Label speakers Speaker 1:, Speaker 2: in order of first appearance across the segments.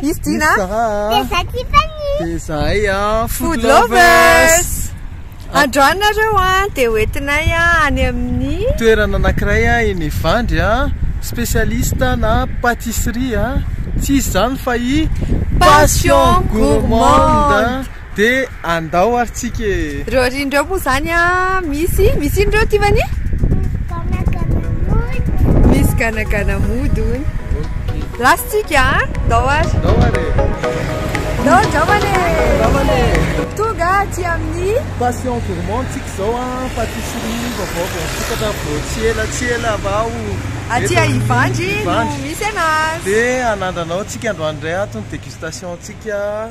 Speaker 1: Izy Dina Dia za Tiffany Dia
Speaker 2: zahay a Food Lovers Androany
Speaker 1: nareo a Dia hoentinay a any amin'ny Toerana anakiray
Speaker 2: a eny Evandry a Spécialiste na pâtisserie a Tsy izy zany fa i Passion Gourmande De andao ary tsika e. Reo ry ndreo moa
Speaker 1: zany a misy misy ino reo Tiffany? Misy ganagana mody hono. Last tsika a, ndao ary. Ndao ary e. Ndao andramana e. Andramana e. Tonga aty amin'ny Passion Gourmand
Speaker 2: tsika zao a, pâtisserie vaovao vao misokatra vao tsy ela tsy ela vao. Aty a
Speaker 1: Ivandry no misy anazy. De anandrana ao
Speaker 2: tsika androany ndray ato ny dégustation tsika.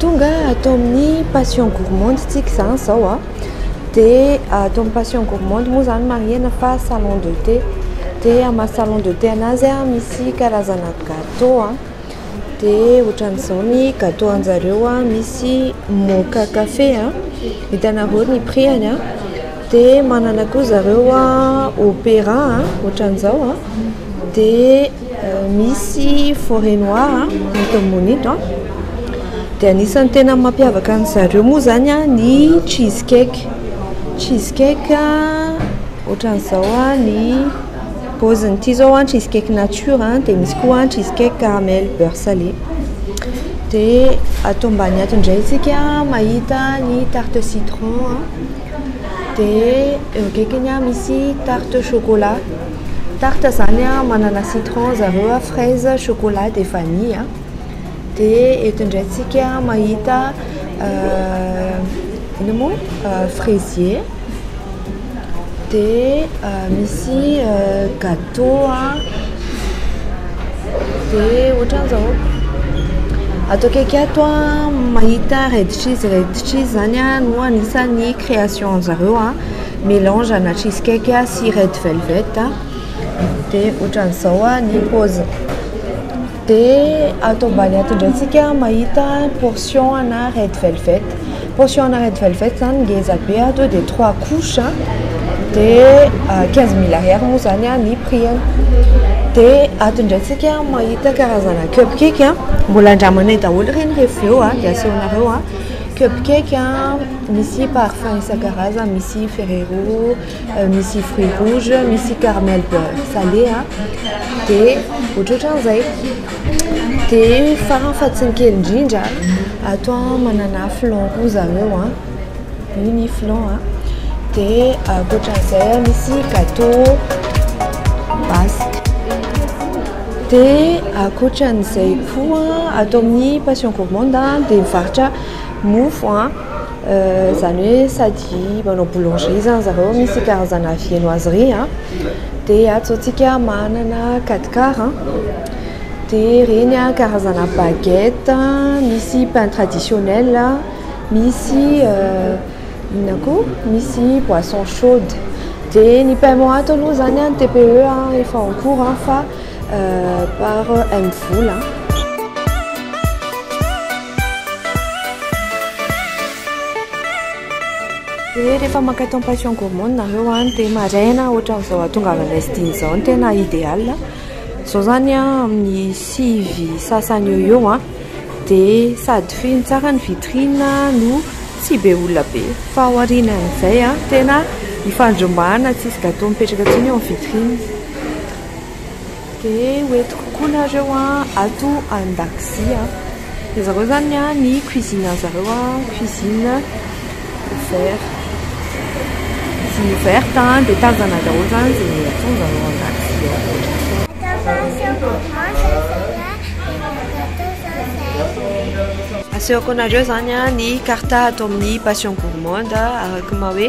Speaker 1: Tonga ato amin'ny passion gourmande tsika izany zao a, ah. dia ato amin'ny passion gourmande moa izany marihana fa salon de thé, dia amin'ny maha salon de thé anazy a, misy karazana gateau a, dia ohatran'izao ny gateau anjareo a, misy moka café a, hitanareo ny prix-any a. Dia manana koa zareo opera ohatran'izao a, dia misy forêt noire eto Ambohimonindo a, dia anisan'ny tena mampiavaka an'i zareo moa izany a ny cheese cake, cheese cake ohatran'izao a ny paoziny, ity izao a cheese cake nature a, dia misy koa cheese cake caramel beurre salé, dia ato ambany ato indray isika mahita ny tarte citron a. dia eo akaikiny misy tarte chocolat, tarte zany manana citron zareo a, fraise, chocolat dia vanille, dia eto indray tsika mahita inona moa fraisier dia misy gateau. Toa ve ohatran'ny zao, ato akaiky ato aho mahita reditriz reditriz zany no anisan'ny création anjareo a, melange ana cheese cake sy red velvet dia ohatran'izao ny paoziny. Dia ato ambany ato indray tsika mahita portion ana red velvet. Portion ana red velvet zany ngeza be ato dia trois couches dia quinze mille ariary moa zany ny prix-ny. Dia ato indray tsika mahita karazana cup cake, mbola andramanay daholo ireny rehefa avy eo dia asehonareo. Cup cake misy parfum isan-karazany misy ferrero. misy fruit rouge misy carmel beurre salé a de ohatrohatran'izay de farany fa tsy ny kely indrindra ato a manana flan koa zareo a io ny flan a de ankoatran'izay a misy gâteau basque de ankoatran'izay koa ato amin'ny passion gourmande a de mivarotra mofo a Izany hoe sady manao boulangerie izany zareo, misy karazana viennoiserie dia antsointsika manana quatre quart dia ireny karazana baguette, misy pain traditionnel, misy inona koa misy boisson chaude. Dia ny paiement ato aloha izany ny TPE efa en cours fa Par M Vola. Dia rehefa maka temptation gourmande nareo an dia maraina ohatran'izao hatongavanay sdina izao no tena idéal zao zany an amin'ny sivy sasany eo eo an dia sady feno tsara ny vitrine no tsy be olona be fa aoriana an'izay an tena ifandrombahana tsisy gateau mipetraka intsony eo amin'ny vitrine Dia hoentiko koa nareo ato an-dakozia. Dia zareo izany ny cuisine an'ny zareo cuisine ouverte. Cuisine ouverte dia tanjana daholo izany izay ataon'izareo ao an-dakozia ao. Asehoko anareo izany ny carte ato amin'ny passion gourmande araka ny maha hoe.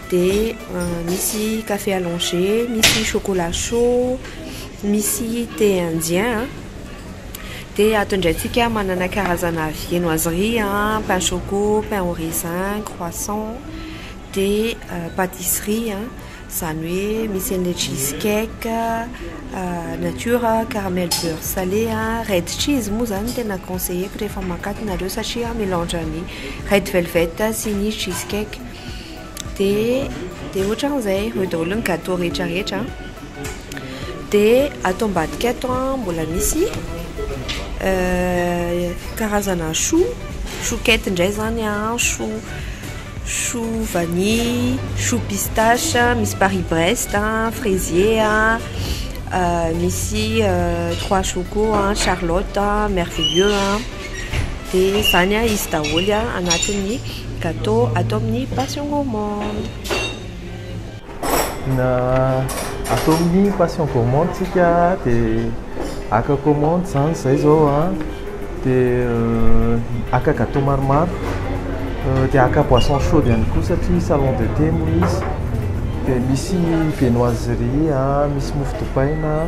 Speaker 1: Dia misy café allongé, misy chocolat chaud, misy thé indien an. Dia ato indray tsika manana karazana viennoiserie an, pain choco, pain au raisin, croissant. Dia patisserie an, izany hoe misy an'ilay cheese cake, nature, caramel beurre salé an, red cheese moa izany no tena conseilleko rehefa mankatona nareo satria melange an'ny red velvet sy ny cheese cake. dia dia ohatran'izay eo daholo ny gateau rehetra rehetra dia ato ambadika ato an mbola misy karazana chou chou quette indray zany an chou chou vanille chou pistache misy paris brest an fraisier an misy trois choco an charlotte an merveilleux an Dia zany a izy daholo a anatin'ny gateau atao amin'ny passion gourmande. Na
Speaker 2: atao amin'ny passion gourmande tsika dia aka commande zany zay zao a dia aka gateau maromaro dia aka boisson chaude ihany koa satria salon de thé moa izy dia misy viennoiserie a, misy mofo dipaina.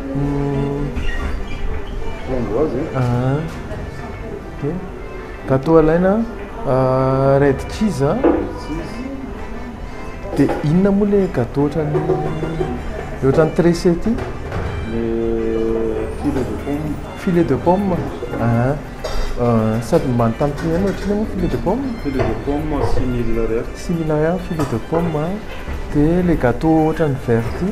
Speaker 3: Framboise e. Ah.
Speaker 2: Okey. Gâteau alaina ah, red cheese ah. Dia inona moa ilay gâteau ohatran'ny ilay ohatran'ny tressé ity? Le filet de pomme. Filet de pomme? Ah. Ah, sady many tampoka ihany ohatran'io moa filet de pomme? Filet de pomme
Speaker 3: six mille ariary. Six mille ariary filet de
Speaker 2: pomme ah. Dia ilay gâteau ohatran'ny vert ity?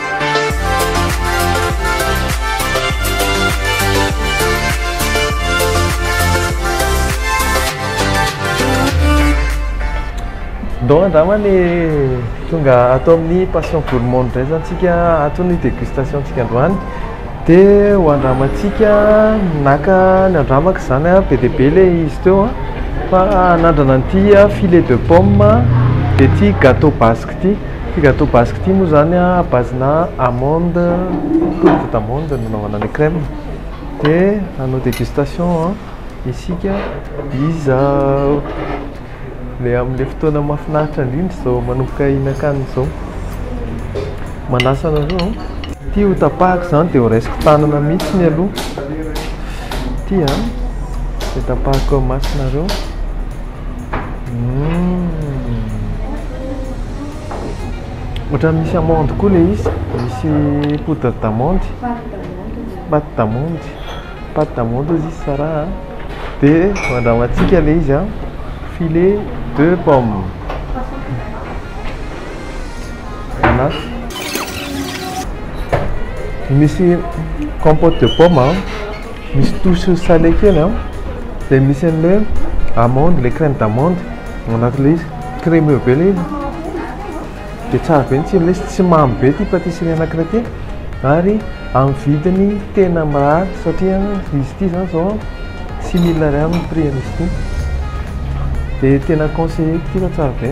Speaker 2: Don angamba ny tonga ato amin'ny passion gourmand indray zany tsika ato ny dégustation tsika androany dia ho andramantsika naka ny andramaka izany a be dia be ilay izy teo a fa hanandrana an'ity filet de pomme dia ity gâteau basque Ity gâteau basque ity moa izany à base-na amande, poudre d'amande no nanaovana an'ilay crème. Dia hanao dégustation isika izao. Ilay amin'ilay fotoana mahafinaritra indrindra izao manomboka hihinan-kanina izao. Manasa anareo. Ity ho tapahako izany dia ho raisiko tanana mihitsy ny aloha. Ity dia tapahako amasonareo. Ohatran'ny misy amande koa ilay izy, misy poudre d'amande, pate d'amande, pate d'amande hozy izy Sarah a, dia andramantsika ilay izy a, filet de pomme. Ana, misy compote de pomme a. Misy touche salé kely an, dia misy an'ilay hoe amande, ilay crème d'amande ao anatin'ilay izy, crémeux be ilay izy, dia tsara be ny tsirony, ilay izy tsy mamy be ity patisserie anankiray ity ary amin'ny vidiny tena mirary satria izy ity izany izao an, six mille ariary ny prix an'izy ity, dia tena conseillé-ko ity fa tsara be.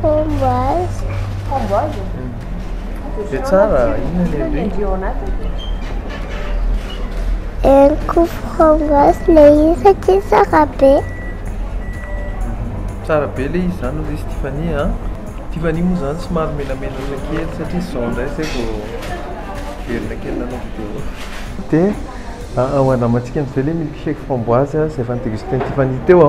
Speaker 2: Framboise. Framboise? Dia tsara, inona
Speaker 4: ny endriny? Endriny ao anatiny? Henoko framboise ilay izy satria tsara be.
Speaker 2: Tsara be ilay izy izany hoy izy Tiffany a. Tiffany moa izany somary menamenatra kely satria izao indray izay vao miverina kely nanao vidéo. Dia andramantsika amin'izay ilay milkshake framboise izay efa ni-deguster-n'i Tiffany teo.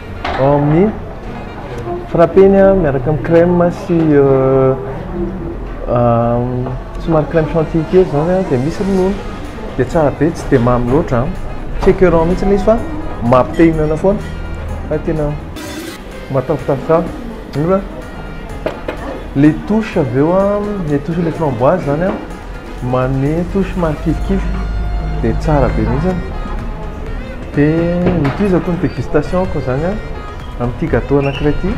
Speaker 2: ao amin'ny frappeny a, miaraka amin'ny crème sy somary crème chantilly kely izany a, dia misy ronono, dia tsara be, tsy dia mamy loatra an, tsy écœurant mihitsy ilay izy fa maha te hihinana foana, fa tena mahatafotafo tsara, mora, les touches avy eo an, les touches ilay framboise izany an. Manome touche mahakifikify dia tsara be mihitsy an! Dia nitohizako ny dégustation-ko izany an, amin'ity gâteau anankiray ity,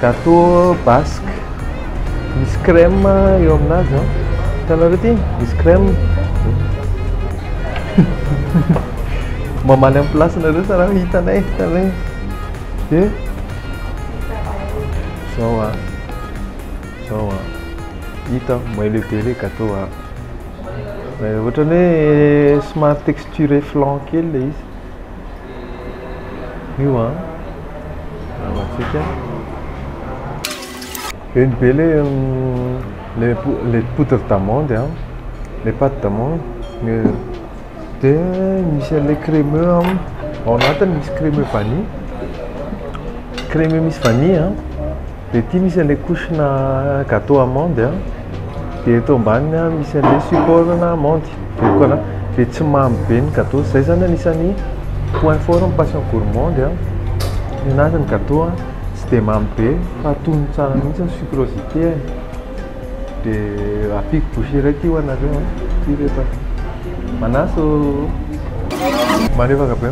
Speaker 2: gâteau basque misy crème eo aminazy an, hitanareo ity? Misy crème, mamaly amin'ny place-nareo sa raha hitanay, hitanay, dia izao an. Zao a. Hita aho, maillot be le gateau a. Ohatran'ny hoe somary texturé flan kely le izy. Io a. Antsika. Be ny be le le le poudre d'amande a. Le pâte d'amande. Dia misy an'ilay crémeux ao aminy, ao anatiny misy crémeux vanille, crémeux misy vanille an, dia ity misy an'ilay couche-na gâteau amande an, dia eto ambaniny an misy an'ilay support-na amande, dia koa na- dia tsy mamy be ny gâteau, izay izany anisan'ny point fort ny passion gourmande an, ny anazy ny gâteau an tsy dia mamy be fa tonony tsara mihitsy ny sucrosité-ny. De ampiko bougie raiky io anareo an. Ty reto an. Manasa ô. Malefaka be.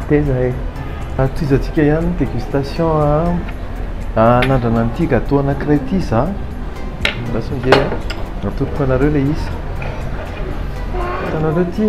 Speaker 2: Teza e. Atohizantsika ihany ny dégustation an. Hanandrana an'ity gâteau anankiray ity za. Andraso nge. Atoloko anareo le isa. Hitanareo ty.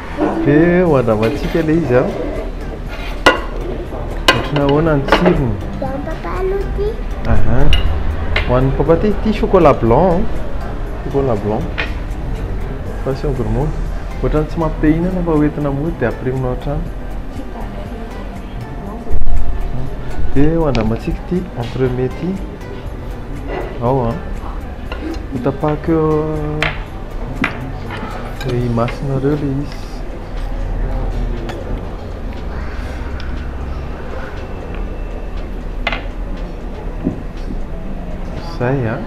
Speaker 2: Ve ho andramantsika ilay izy an? Ohatrana ahoana ny tsirony? Aha. Ho an'ny papa ty, ty chocolat blanc, chocolat blanc. Passion gourmande. Ohatrany tsy mampite hihinana fa hoentina mody dia apirimina ao an-trano. Ve ho andramantsika ity entremets ity? Ao an. Hotapahako eo le imasonareo le izy. Zay an.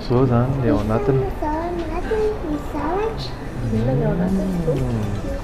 Speaker 2: Zao zany le ao anatiny. Zao anatiny ny salatra. Inona ny ao anatiny?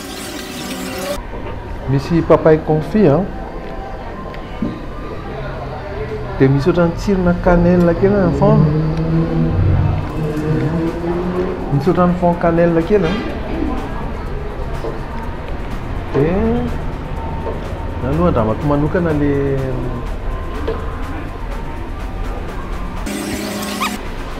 Speaker 2: Misy papay confit an. Dia misy ohatran'ny tsirona cannelle kely ny fond. Misy ohatran'ny fond cannelle kely an. Dia na aloha andramako manokana le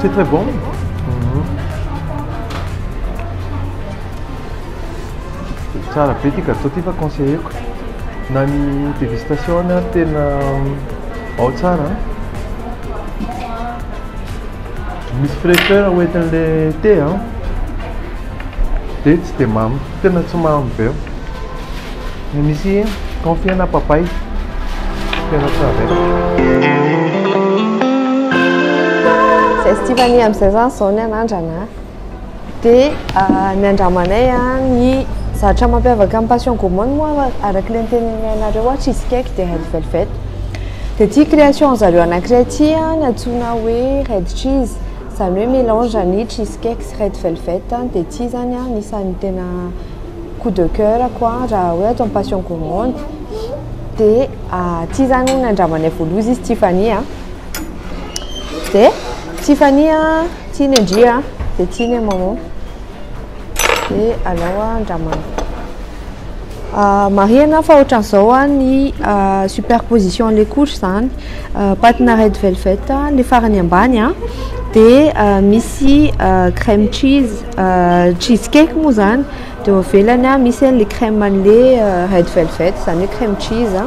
Speaker 2: C'est très bon. Mhm. Tsara be ity gâteau ity fa conseilleko. Na ny dégustation na tena ao tsara. Misy fraîcheur hoentin'ilay thé an. Dia tsy dia mamy. Tena tsy mamy be. Ny misy confit na papay. Tena tsy navela.
Speaker 1: Zay Stivani amin'izay zany zao ny anandrana. Dia ah, ny andramanay ah, ny zavatra mampiavaka ny passion gourmande moa araka ilay noteneninay anareo ah, cheese cake dia red velvet. Dia ity création zareo anankiray ity ah, ny antsoina hoe red cheese. Zany hoe melange ny cheese cake sy red velvet dia tsy zany anisany tena coup de coeur ko raha hoe ato am passion gourmande dia tsy zany hono andramanay voaloha izy Tiffany a dia Tiffany a tsy ny ndry a dia tsy ny maman dia aleo andramana Marihina fa ohatran'izao ny superposition les couches izany, patina red velvet ny farany ambany dia misy crème cheese, cheese cake moa izany, dia eo ivelany misy an'ilay crème an'ilay red velvet izany hoe crème cheese,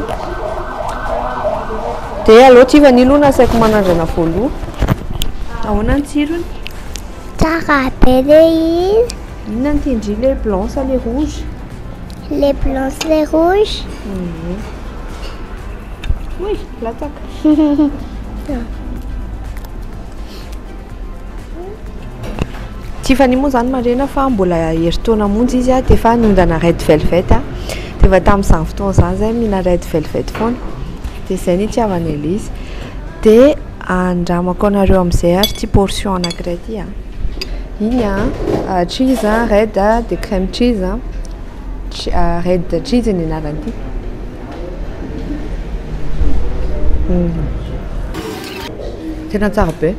Speaker 1: dia aleo ity vanio aloha no asaiko manandrana voaloha, ahoana ny tsirony? Tsara
Speaker 4: be le hira. Inona ny tian-dry
Speaker 1: le blanc sa le rouge? Le
Speaker 4: blanc sy le rouge. Ehe.
Speaker 1: Oy, latsaka. Tiffany moa izany marena fa mbola herintaona monja izy dia efa niondana Red Velvet. Dia efa tamin'izany fotoana izany izahay mihina Red Velvet foana. Dia izay ny itiavana an'ilay izy. Dia Andramako anareo amin'izay ary ity portion anankiray ity a. Iny a, cheese a, red a, dia crème cheese a. Ch- a, red cheese ny anarany ity. Tena tsara be.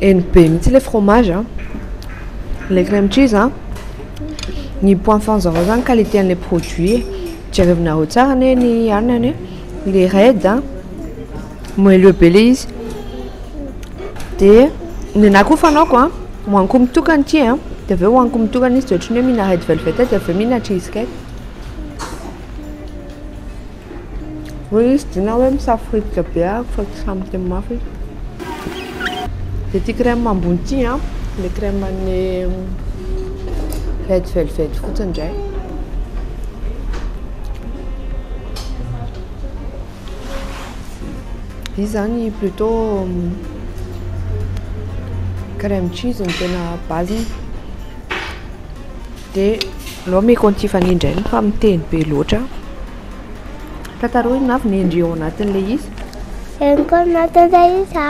Speaker 1: Heny be mihitsy ilay fromage a. Ilay crème cheese a, ny point fort-n'zareo izany qualité an'ilay produit e. Jerevinareo tsara anie ny anona anie, ilay red a. Moelleux be le izy. Dia nenahy koa fanaoko a, hohaniko mitokana ity a, dia avy eo hohaniko mitokana izy dia ohatran'ny hoe mihina red velvet dia avy eo mihina cheese cake. Hoy izy dina hoe misafirifika be aho fa tsy sahy miteny mafy izy. Dia ity crème ambony ity a, le crème an'ny red velvet fotsiny indray. Izy zany plutôt crème cheese no tena base-ny de aleo ameko an'ity fanindry iny fa miteny be loatra tantaro ino avy ny endriny ao anatin'ilay izy eny koa ny
Speaker 4: anatin'ilay izy a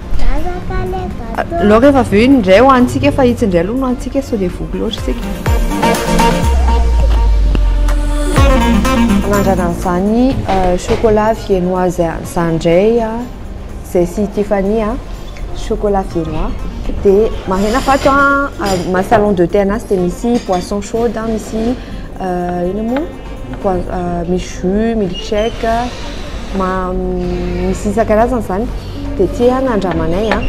Speaker 1: Aleo rehefa avy eo iny indray ho antsika fa itsy indray aloha no antsika sao dia voky loatra isika. Mandrana an'izany euh, chocolat viennoise an'izany indray izay sy Tiffany an, chocolat viennois. Dia marihina fa ato an, salon de thé an'Assy dia misy boisson chaude, misy euh, inona moa? misy jus, milk shake, misy isan-karazany izany dia ity nandramanay an,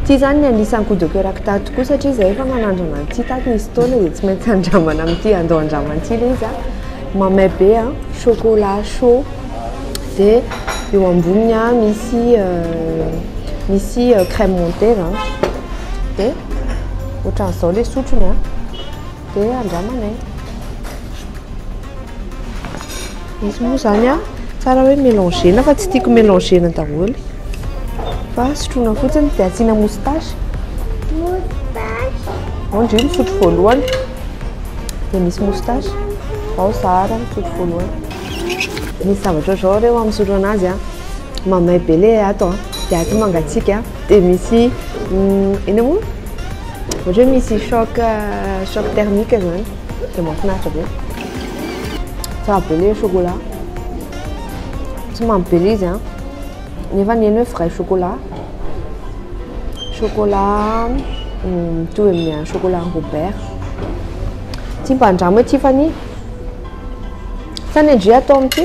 Speaker 1: ity izany no anisany coup de coeur-ko tato koa satria izahay efa nanandrana an'ity tato nisy taona dia tsy maintsy andramana amin'ity andao handrama amin'ity ilay izy an, mamay be an, chocolat chaud dia eo amboniny an misy misy crème montée izany dia ohatran'izao ilay sotrony an. Dia andramana e. Izy moa izany a, tsara hoe mélanger-na fa tsy tiako mélanger-na daholo. Fa sotroina fotsiny dia asiana moustache. Moustache. Ao ndry misotro voalohany. Dia misy moustache. Ao zara misotro voalohany. Misy zavatra ohatr'izao reo amin'ny misotro anazy a. Mamay be le ato a. Dia ato mangatsiaka a. dia misy inona moa ohatra hoe misy choc choc thermique zany dia mahafinaritra be tsara be le chocolat tsy mamy be le izy a nefa ny eny hoe vrai chocolat chocolat mitovy amin'ny chocolat robert tsy mba andramo hoe Tiffany sa ny ndry atao amin'ity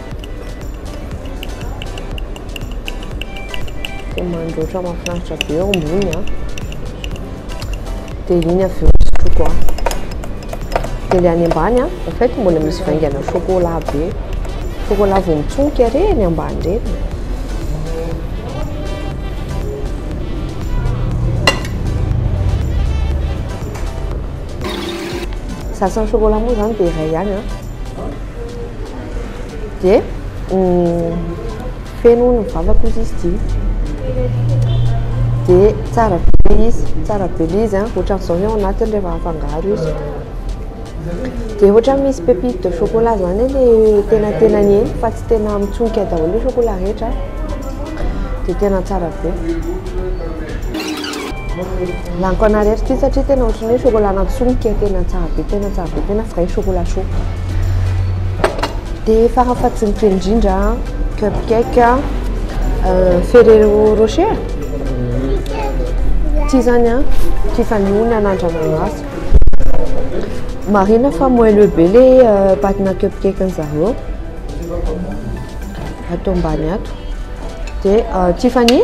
Speaker 1: dia mandroatra mahafinaritra be eo ambony a dia iny avy eo sotroko a dia ilay any ambany a en fait mbola misy vaingana chocolat be chocolat vao mitsonika re ny ambany reny sasany chocolat moa zany dia iray ihany a Dia feno hono ny vavako hoy izy dia dia tsara be ilay izy, tsara be ilay izy a, ohatran'izao ny ao anatiny rehefa afangaro izy, dia ohatra misy pépite de chocolat izany anie ilay tenatenany eny fa tsy tena mitsonika daholo ny chocolat rehetra dia tena tsara be. Laniko anary eto ity satria tena ohatry ny hoe chocolat natsonika tena tsara be tena tsara be tena vrai chocolat chaud dia farany fahadinika indrindra cup cake euh, ferrero rocher ity zany a Tiffany ony anandramanasy marina fa moelleux be le euh, patina cup cake ny zareo atao ambany ato dia euh, Tiffany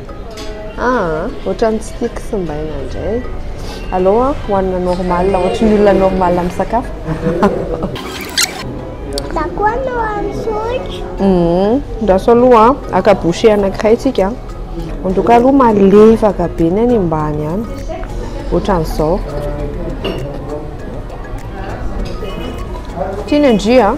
Speaker 1: Aa otrany tsy tia kisimbaina ndray. Alou an hoanina normal ohatry ny olona normal misakafo.
Speaker 4: Za koa no antsotro. Hum, andraso aloha
Speaker 1: an, aka bouchée anankiray tsika. En tout cas aloha malefaka be ny any ambany any. Ohatran'izao. Tiany ndry an.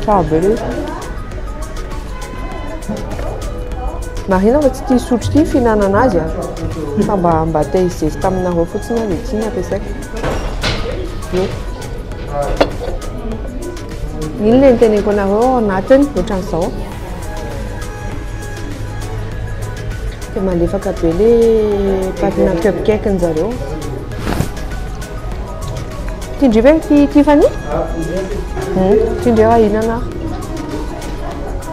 Speaker 1: Tsara be le Marina fa tsy tia sotro ity fihinanana azy a ah. fa mba mba te hizesta aminareo fotsiny aho dia ity no ampiasaiko io iny le niteneko anareo ao anatiny ohatran'izao dia malefaka be le patina cupcake-ny zareo Tindrio ve ity Tiffany? Hmm, tindrio ahinana.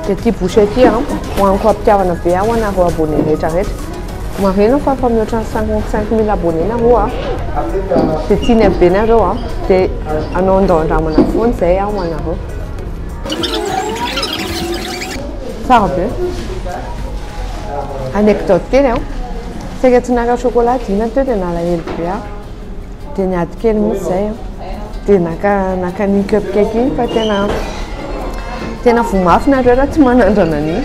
Speaker 1: Dia ity boucher ity an, hoaniko am-pitiavana be aho anareo abonné rehetra rehetra. Marina fa efa mihoatra ny 55 mille abonné nareo a. Dia tiany be nareo a. Dia anao andao-andramana foana izay aho ho anareo. Tsara be. Anecdote kely an. Saika tsy naka chocolat dina teo dia nalahelo be aho. Dia niady kely mihitsy izay aho, dia naka naka an'iny cupcake iny fa tena tena voa mafy nareo raha tsy manandrana an'iny.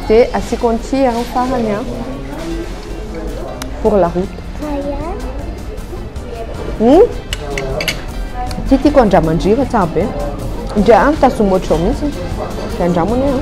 Speaker 1: Dia asiako an'ity an farany an pour la route. Hmm? Ity tiako andramandriva tsara be. Ndry an mitazoma ohatr'izao mihitsy. Dia andramo anie an.